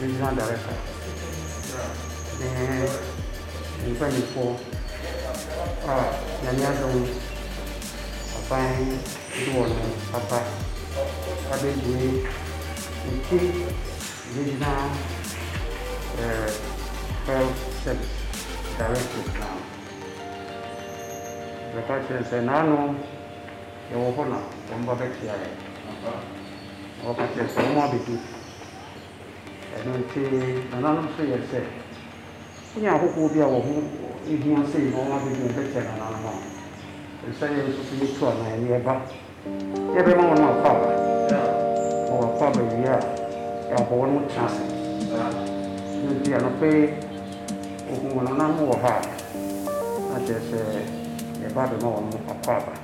Regional Director ne ne mpaninfoɔ a Nyame adom aban de wɔn aba abɛbue Nte Regional Health Service Directorate no. Yɛbɛka akyerɛ no sɛ, naano Yɛwɔ hɔ na wɔba bɛpia yɛn. Na wɔka kyerɛ yɛn sɛ wɔn abɛdu. Ɛno nti nananom nso yɛɛ sɛ sɛnea ahohoɔ bi a wɔn ho hia sei na wɔn abɛdu yɛn bɛkyɛ nananom no, ɛsɛ sɛ yɛn nso so yɛtu anaa yɛn yɛ ba na yɛbɛma wɔn akwaaba. Na wɔakwaaba wie a, yɛabɔ wɔn tena ase. Ɛno nti anɔpa yi wɔhuu nananom wɔ ha a, na kyerɛ sɛ yɛreba abɛma wɔn akwaaba.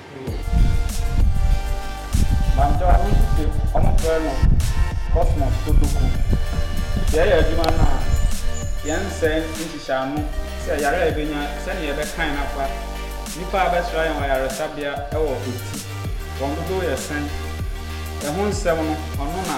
Bankyɛ ɔno nso te ɔmo frɛ no Cosmos Kotoku. Yɛ yɛ adwuma no a yɛn nsɛe nhyehyɛ ano sɛ yare a yɛbɛnya sɛnea yɛbɛkan no afa nnipa a abɛsra yɛn wɔ ayaresabea wɔ ɔti wɔn dodow yɛ sɛn ɛho nsɛm no ɔno na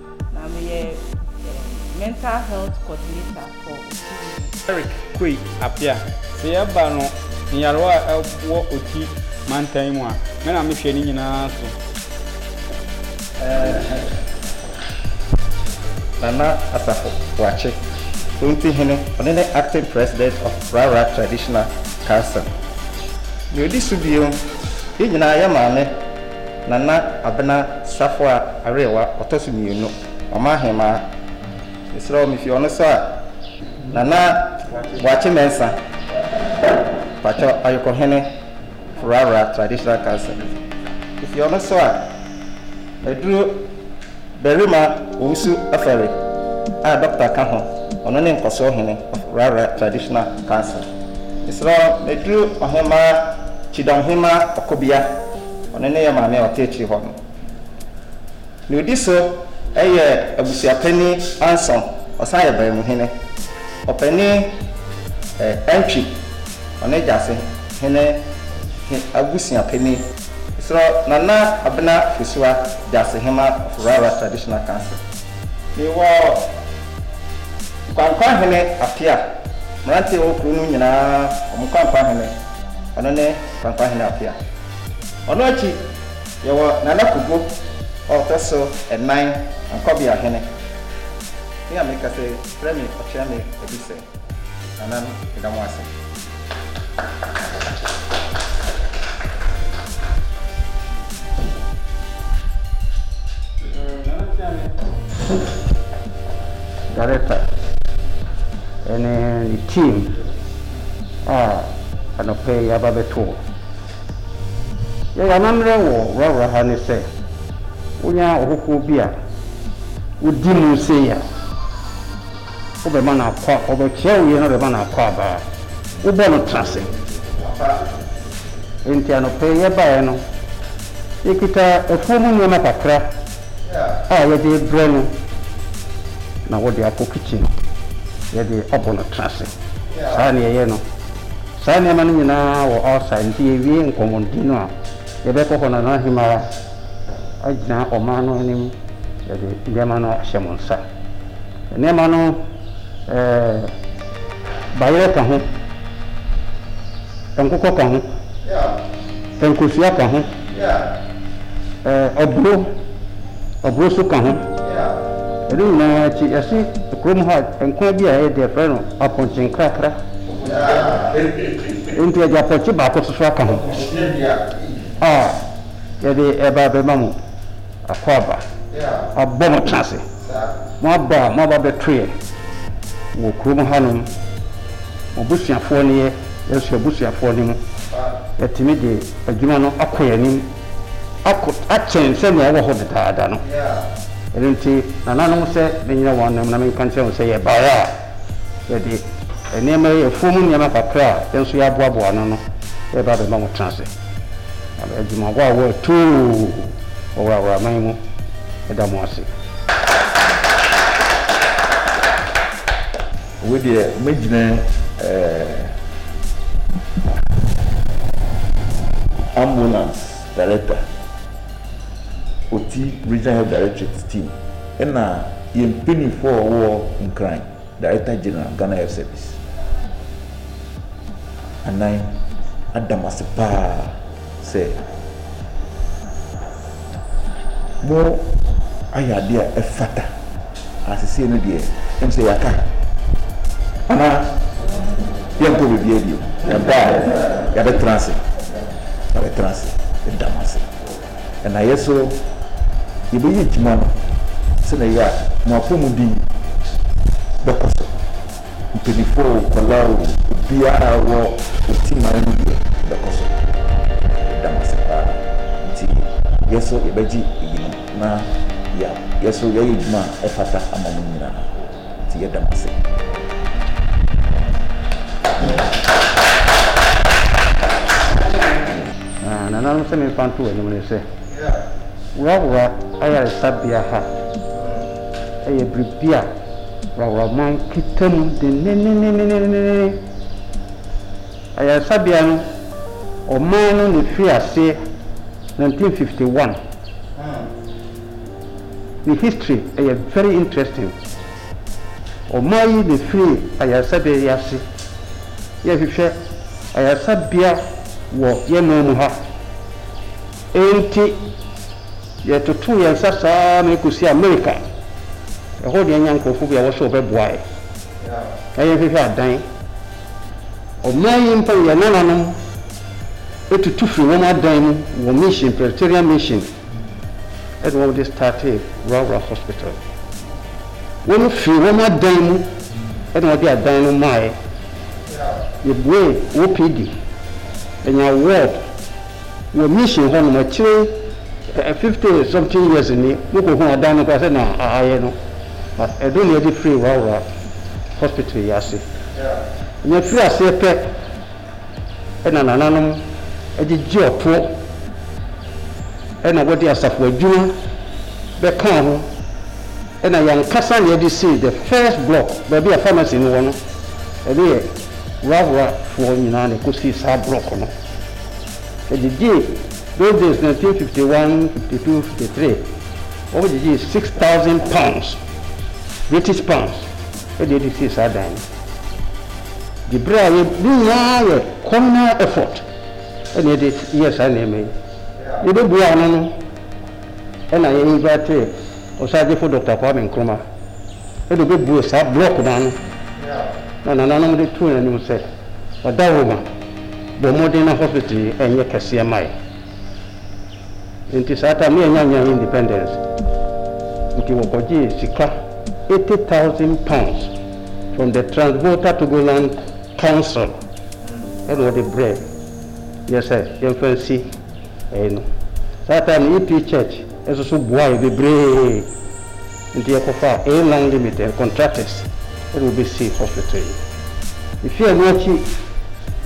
Na meyɛ mental health coordinator for Otuo no. Eric Kwei Appiah, Sɛ yɛba no nyarewa a ɛwɔ Oti mantan yi mu a, me na mehwɛ ne nyinaa so. Nana Asafo Boakye, Oti Hene, ɔno ne Acting President of Rara Traditional Council. Nea odi so bio, yɛn nyinaa yɛ maame Nana Abena Safoa Arewa ɔtɔ so mmienu, ɔman ahemaa. Mesrɛ wo, mefi ɔno so a, Nana Boakye Mensah, mpakyɛ, Ayokohene Furara Traditional Council. Mefi ɔno so a, Aduro. Barima Owusu Ofori a dɔkota ka ho, ɔno ne nkɔsoɔ hene of Rara Traditional Council. Mesrɛ wo, meduru Ɔhemmaa Kyidɔmhemmaa Ɔkobia, ɔno ne yɛn maame a ɔte akyiri hɔ no. Deɛ ɔdi so yɛ Abusuapanin Ansong, ɔsan yɛ Baamuhene. Ɔpanin Antwi, ɔno ne Gyase hene he abusuapanin. Mesrɛ Nana Abena Fosuwa Gyasehema of Rara Traditional Council, mewɔ Nkoankoa Hene Apia, mmeranteɛ a ɛwɔ kuro no nyinaa wɔn Nkoankoa Hene, ɔno ne Nkoankoa Hene Apia. Ɔno akyi yɛwɔ Nana Kogo a ɔtɔ so nnan Ankwabea Hene. Me a mekasa yi, frɛ me Ɔtweame Adusɛ. Nananom, yɛda mo ase. Director ɛne ne team a anɔpɛ yi aba bɛto hɔ. Yɛyɛ amammerɛ wɔ wurawura ha ne sɛ, wonya ɔhokoɔ bi a wodi mu sei a, Wobɛma no akɔ a, wɔbɛkyerɛ wo yɛ na wode bɛma no akɔ aba a, wobɔ no tena ase. Enti anɔpa yi yɛbaeɛ no, yɛkita afuo mu nneɛma kakra a yɛde rebrɛ no na wode akɔ kitchen, yɛde abɔ no tena ase. Saa na yɛyɛ no. Saa nneɛma no nyinaa wɔ outside, nti yɛwie nkɔmmɔdi no a, yɛbɛkɔ hɔ na Nana Hemara agyina ɔman no anim de nneɛma no ahyɛ mo nsa. Nneɛma no ɛɛ bayerɛ ka ho, nkokɔ ka ho, nkosua ka ho, ɛɛ ɔboro, ɔboro nso ka ho. Ɛno nyinaa akyi yɛse kurom ha nkwan bi a ɛyɛ dɛ frɛ no apɔnkye nkrakra. Nti yɛde apɔnkye baako soso aka ho a yɛde ɛba abɛma mo. Akwaaba, abɔ mo tena ase. Mo aba a mo aba bɛto yɛn wɔ kurom hanom. Mo abusuafoɔ ne yɛ, yɛn nso yɛn abusuafoɔ ne mo. Yɛatumi de adwuma no akɔ yɛn anim akɔ akyɛn sɛnea ɛwɔ hɔ dedaada no. Ɛno nti, nananom, sɛ menyina wɔn anim na menka nkyerɛ wɔn sɛ yɛbaeɛ a, yɛde nneɛma yi, afuom nneɛma kakra a yɛn nso yɛaboaboa ano no reba abɛma mo tena ase. Adwumagoa a wɔatu wɔ Waraman mu da mo ase. Wei deɛ mɛgyina ambulance director. Ɔtsi Regional Health Directorates team na yɛn mpanyinfoɔ a wɔwɔ hɔ Nkran, Director General, Ghana Health Service. Anan, ada mo ase paa sɛ mo ayɛ adeɛ a ɛfata. Ah sesei no deɛ em sɛ yɛaka anaa yɛnkɔ bebia bio ɛba a yɛabɛtena ase yɛabɛtena ase yɛda mo ase ɛna yɛ so yɛbɛyɛ adwuma no sɛ na ɛyɛ a mo apɔmuden bɛkɔ so mpanyinfoɔ o kɔla o obiara wɔ otiman no deɛ bɛkɔ so yɛda mo ase paa nti yɛ so yɛbɛgye eyinom Na yɛa, yɛ so yɛayɛ adwuma a ɛfata ama mo nyina ara, enti yɛda mo ase. Na nananom sɛ memfa nto w'anim ne sɛ, Wrawra Ayaresabea ha yɛ biribi a Wrawraman kita mu denneenneneneneene. Ayaresabea no, ɔman no na ɛfirii aseɛ 1951. Ne history yɛ very interesting. Ɔman yi na ɛfiri ayaresabea yi ase. Yɛhwehwɛ ayaresabea wɔ yɛn man mu ha. Ɛnti yɛtotoo yɛn nsa saa ma ɛkɔsi America. Ɛhɔ deɛ yɛnya nkorɔfoɔ bi a wɔsɛ wɔbɛboa yɛn na yɛnhwehwɛ adan. Ɔman yi mpo yɛn nananom. tutu firi wɔn adan mu wɔ mission Presbyterian mission ɛna wɔn de startee Rural Hospital wɔn firi wɔn adan mu ɛna wɔn de adan no maaɛ yɛbue OPD ɛnya ward wɔ mission hɔ nom akyire eh, fifty something years ni mokɔ hu adan no kora sɛ na ayɛ no ɛno na yɛde firi Rural Hospital yi ase nya firi aseɛ pɛ na nananom gyegye ɔtoɔ na wɔde asafo adwuma bɛkaa ho na yɛn ankasa na yɛde sii the first block baabi a pharmacy no wɔ no. Ɛno yɛ Wuraworafoɔ nyinaa na ɛkɔsii saa block no. Ɛgyegyee those days 1951, 52, 53 wɔgyegyee six thousand pounds, British pounds, de adi sii saa dan no. De bere a yɛ ne nyinaa yɛ communal effort na yɛde yɛɛ saa nneɛma yi. Yɛ bɛ bue ano no ɛna yɛ invitee Ɔsaagyefo Doctor Kwame Nkrumah ɛna ɔbɛ bue saa block no ano na nananom de too yɛn anim sɛ Ɔdawoma bɔ mmɔden na hospital yi ɛnyɛ kɛseɛ ma yɛ. Nti saa time no yɛnnya nnya independence nti wɔkɔgyee sika eighty thousand pounds from the Transvolta Togoland Council ɛna wɔde brɛɛ yɛn sɛ yɛmfa nsi ɛyi no. Saa time no EP Church nso so boaa yɛn bebree. Nti yɛkɔfaa A-Line Limited contractors na wɔbɛsii hospital yi. Ɛfiri ɛno akyi,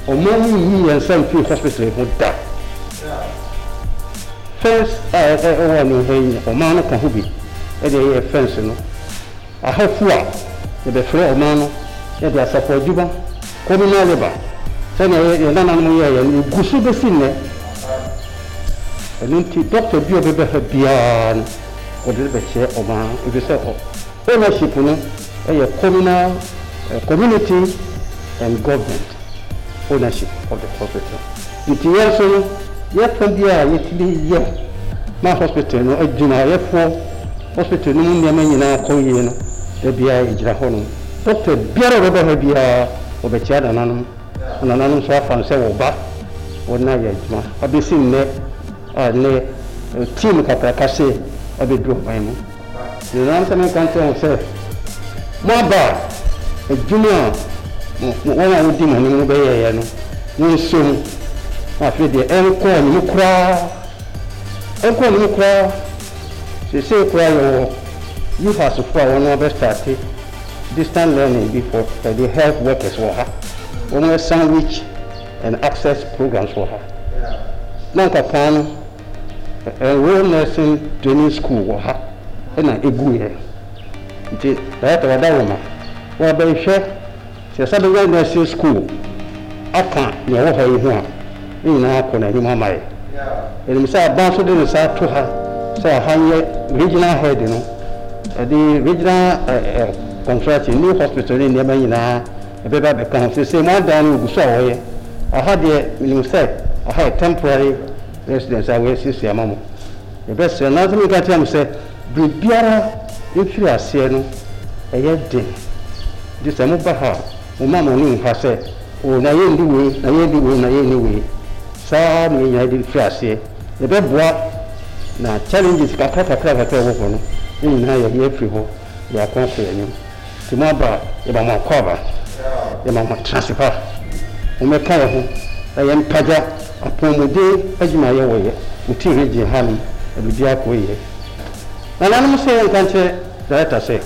ɔman yi nyii yɛn nsa mfiri hospital yi ho da. Fence a ɛwɔ ani ha yi no, ɔman no ka ho bi de yɛɛ fence no. Ahafo a yɛbɛfrɛ ɔman no de asafo adwuma, communal labour, sɛdeɛ yɛn nananom yɛeɛ no, ɛgu so bɛsi nnɛ. Ɛno nti, doctor bi a ɔbɛba ha biara no, wɔde rebɛkyerɛ wɔn ara ɛfiri sɛ ownership no yɛ communal, community and government ownership of the hospital. Nti yɛn nso no yɛfa bi a yɛtumi yɛ ma hospital no adwumayɛfoɔ, hospital no mu nneɛma nyinaa kɔ yie no da biara yɛgyina hɔ nom. Doctor biara a ɔbɛba ha biara wɔbɛkyia nananom, nananom nso afa no sɛ wɔn ba wɔn na yɛ adwuma abɛsi nnɛ Ɛnnɛ, ɔreteɛ mu kakraka sɛ abɛduru ɔman mu. Merenante me nka nkyerɛ mo sɛ moaba a, adwuma a wɔn a wɔdi mo anim no bɛyɛeɛ no, monso mu. Na afei deɛ, ɛnkɔ anim koraa, ɛnkɔ anim koraa. Seesei koraa yɛwɔ UHASfoɔ a wɔn abɛstarte distant learning bi for the health workers wɔ ha. Wɔn asan reach. and access programs wɔ ha. Na anka kan no Rural Nursing Training School wɔ ha na eguiɛ. Nti Director wada wɔn a wɔabɛhwɛ sɛ yɛsan bɛnya nursing school aka nea ɛwɔ ha yi ho a, ne nyinaa akɔ n'anim ama yɛn. Yɛnim sɛ Aban nso de ne nsa ato ha sɛ ha nyɛ regional head no, ɛde regional eh, eh, construction, new hospital ne nneɛma nyinaa Ɛbɛba abɛka ho. Seesei mo adan no wɔgu so a wɔyɛ. Ɛha deɛ, menim sɛ ɛha yɛ temporary residence a wɔasiesie ama mo. Yɛbɛsrɛ, nanso menka nkyerɛ mo sɛ biribiara mfiri aseɛ no ɛyɛ den. Nti sɛ moba ha a, momma mo ani nha sɛ, Oo, na yɛnni wei, na yɛnni wei, na yɛnni wei. Saa ara na yɛnyae de firi aseɛ. Yɛbɛboa, na challenges kakra kakra kakra a ɛwɔ hɔ no, ne nyinaa yɛayi afiri hɔ de akɔ akɔ yɛn anim. Sɛ mo aba a, yɛma mo akwaaba, yɛma mo atenase pa. Mommɛka yɛn ho na yɛmpagya apɔwmuden adwumayɛ wɔ yɛ mo team region hanom na biribiara kɔ yie. Nananom sɛ yɛnka nkyerɛ Director sɛ,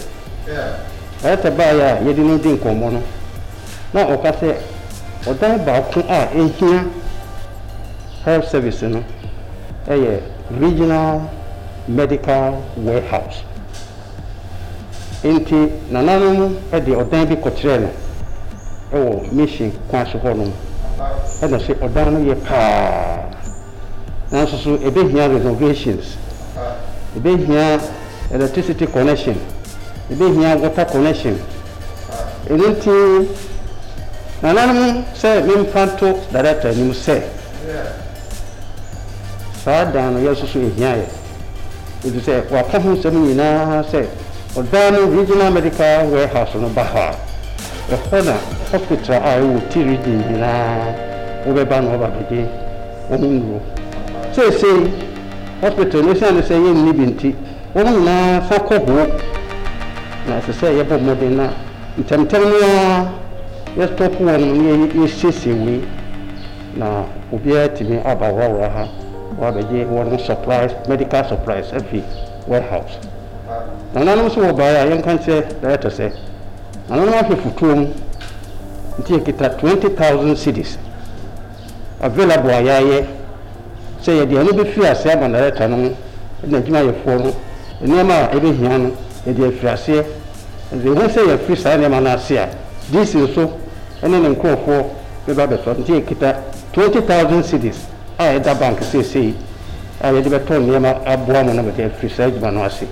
Director baeɛ a yɛde no di nkɔmmɔ no na ɔka sɛ ɔdan baako a ɛhia Health Service no yɛ Regional Medical Warehouse Enti nananom de ɔdan bi kɔkyerɛɛ no wɔ Mission kwan so hɔnom, ɛna ɔse ɔdan no ye paa, nanso so ebehia renovations, ebehia electricity connection, ebehia water connection. Eno nti nananom sɛ memfa nto Director anim sɛ saa dan no yɛn nso so ehia yɛn. efisɛ wɔaka ho nsɛm nyinaa sɛ ɔdan no Regional Medical Warehouse no ba hɔ a, ɛhɔ na hospital a ɛwɔ Ti Region nyinaa wɔbɛba na wɔaba abɛgye wɔn nnuro. Seesei hospital no, esiane sɛ yɛnni bi nti, wɔn nyinaa san kɔ hoo, na ɛsɛ sɛ yɛbɔ mmɔden na ntɛmntɛm no ara yɛstɔpo wɔn na yɛsiesie wei. Na obiara atumi aba wɔ wɔ ha wɔ abɛgye wɔn supplies medical supplies afi warehouse. Nananom nso wɔ baeɛ a yɛnka nkyerɛ director sɛ nananom ahwɛ futuo mu nti yɛkita twenty thousand cedis available a yɛayɛ sɛ yɛde ɛno bɛfiri ase ama director no mo na adwumayɛfoɔ no nneɛma a ɛbɛhia no yɛde afiri aseɛ. Ɛnso yɛhu sɛ yɛafiri saa nneɛma no ase a DC nso ne ne nkorɔfoɔ bɛba abɛtɔ, nti yɛkita twenty thousand cedis a ɛda bank seesei a yɛde bɛtɔ nneɛma aboa mo na mode afiri saa adwuma no ase.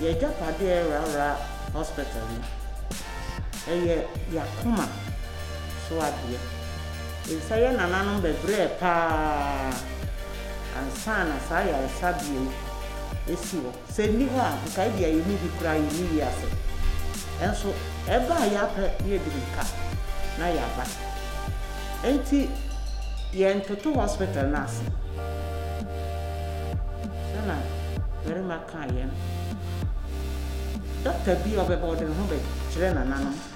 Yɛn agyapadeɛ yɛ Rawra Hospital no. Ɛyɛ yɛn akoma so adeɛ. Nsa yɛn nananom bɛbrɛɛ pa ara ansa na saa ayaresabea yi asi hɔ. Sɛ nni hɔ a, nka ebia yenni bi koraa, yenni wiase. Nanso ɛba a, yɛapɛ na yɛadi mmirika na yɛaba. Enti yɛntoto hospital no ase. Sɛ na barima kaa yɛn. Dɔkta bi a ɔbɛba, ɔde ne ho bɛkyerɛ nananom.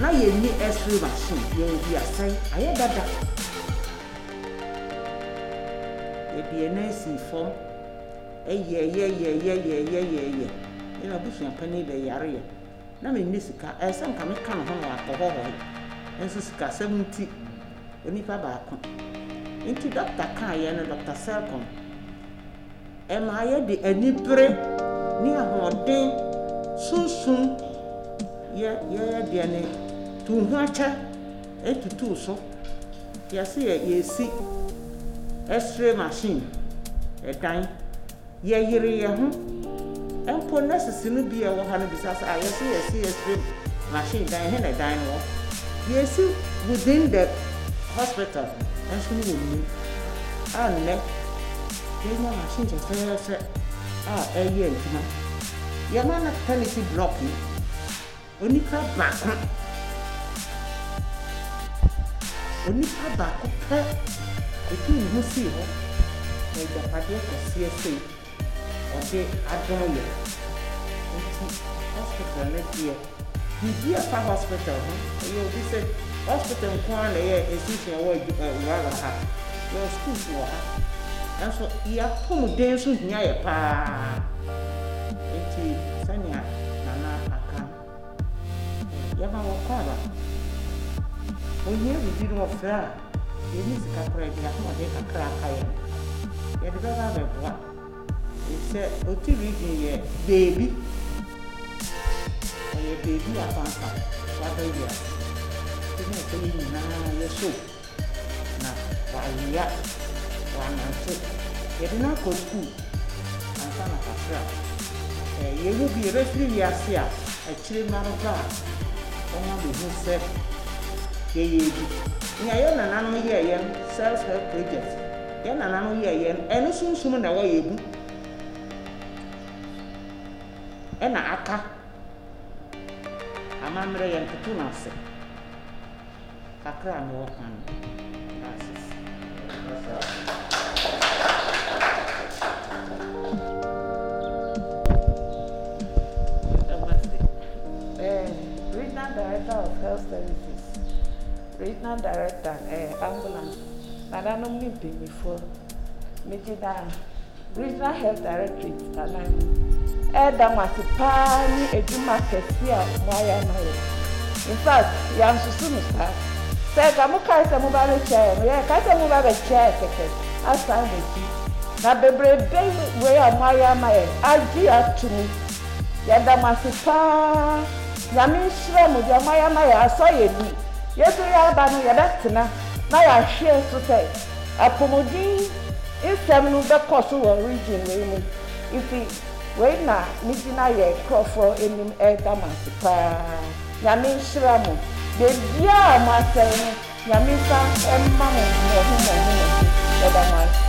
Na yɛn nni X-ray machine, yɛn mfii asɛe, ayɛ dada. Yɛde yɛn nan sii fam, ɛyɛɛ yɛ, ɛyɛɛ yɛ, ɛyɛɛ yɛ, ɛyɛɛ yɛ. Me na m'abusua panin bɛyareeɛ. Na menni sika, ɛyɛ sɛ anka meka me ho na wakɔ hɔhɔe. Nanso sikasɛm nti, onipa baako. Enti dɔkta kaeɛ no, Dɔkta Sercom. Ɛma yɛde anibere ne ahoɔden sunsum yɛ yɛyɛ deɛ ne tu ho akyɛ tutu so. Yɛse yɛ yɛresi X-ray machine, ɛdan. Yɛyere yɛn ho. Mpo nurses no bi a ɛwɔ ha no bisa sɛ, ah yɛse yɛresi X-ray machine dan, ɛhe na ɛdan no wɔ? Yɛresi within the hospital nso no wɔnnim. Ɛnnɛ. Yɛnya machine fɛfɛɛfɛ a ɛyɛ adwuma. Yɛma no pɛmiti blɔk yi onipa baako. Onipa baako pɛ ɛtuu ne ho sii hɔ na agyapadeɛ kɛseɛ sei ɔde adom yɛn. Nti hospital no deɛ Biribi a ɛfa hospital ho. Ɛyɛ obi sɛ hospital nko ara na ɛyɛ institution a ɛwɔ adwuma wɔ ha. Yɛwɔ schools wɔ ha. Nanso yɛn apɔmuden nso hia yɛn pa ara. Enti sɛnea Nana aka no, yɛma wɔkɔ aba. Wɔhia biribi na wɔfrɛ a, yɛnni sika koraa bi a, wɔde kakra a aka yɛn no, yɛde bɛba abɛboa. Sɛ ɔte region yɛ beebi, ɔyɛ beebi afanka waba wiase. Nti na ɛsɛ yɛn nyinaa yɛ show na wayea, wanante. Yɛde no akɔ school ansa na kakra a yɛwu bi yɛbɛfiri wiase a akyire no ara ba a wɔn abɛhu sɛ yɛyɛ bi. Nea yɛn nananom yɛɛyɛ no self help project. Yɛn nananom yɛɛ yɛn ɛno sunsum na ɛwɔ yɛn mu ɛna aka amammerɛ yɛn toto no ase kakra a me wɔ ka no francis Regional Director of Health Services, Regional Director, eh, Ambulance nananom ne mpanimfoɔ. Megyina Regional Health Directorate anan mu ɛreda mo ase paa ne adwuma kɛseɛ a moayɛ ama yɛ. In fact, yɛansusu no saa. Sɛ nka mokae sɛ moba bɛkyia yɛ no, yɛkae sɛ moba bɛkyia yɛ kɛkɛ asan mo akyi. Na bebrebe wei a moayɛ ama yɛ agye ato mu. Yɛda mo ase paa. Nyame nhyira mo. Deɛ moayɛ ama yɛ asɔ yɛ ani. Yɛso yɛaba no, yɛbɛtena. na yɛahwɛ nso sɛ apɔmuden nsɛm no bɛkɔ so wɔ region wei mu nti wei na megyina yɛn nkurɔfoɔ anim reda mo ase paa Nyame nhyira mo baabiara a moasɛe no Nyame nsa mma mo mmɔho mmɔho mmɔho yɛda mo ase.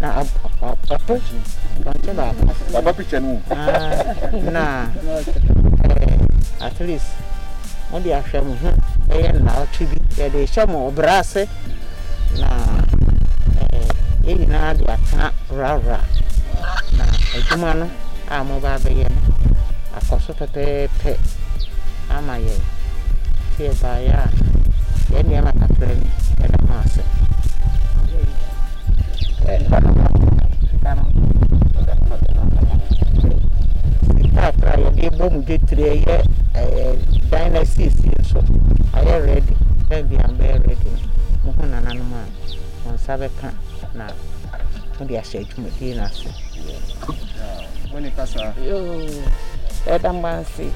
na waba picture no mu na at least mo de ahwɛ mo ho ɛyɛ nnaawɔtwe bi yɛde hyɛ mo ɔbra ase na yɛn nyinaa de atena wurawura na adwuma no a mo ba bɛyɛ no akɔ so pɛpɛɛpɛ ama yɛn. Sɛ yɛbaeɛ a, yɛn nneɛma kakra bi da ho ase. Nkrataa a yɛde bɔ mu dwetire yɛ ɛɛ dan no asiesie nso ayɛ rɛdi. Bɛn bi a bɛyɛ rɛdi no, mo ho nananom a wɔn nsa bɛka na wɔde ahyɛ Mede no ase. Wo ne kasa. Yoo yɛda mo ase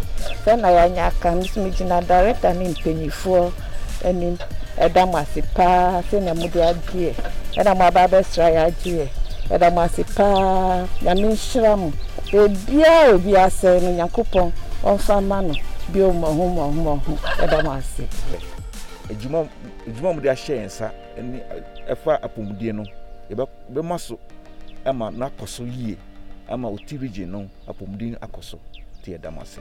sɛ na yɛanya aka me so me gyina director ne mpaninfoɔ anim ɛda mo ase paa sɛnea mo de agyeɛ ɛna mo aba abɛsra yɛ agyeɛ ɛda mo ase paa nyame nhyira mo baabiaa obi asɛe no nyankopɔn ɔmfa mma no bio mmɔho mmɔho mmɔho ɛda mo ase. Adwuma adwuma mo de ahyɛ yɛn nsa. ne ɛfa apɔmuden no yɛbɛma so ma no akɔ so yie ama ɔti region no apɔmuden akɔ so nti yɛda mo ase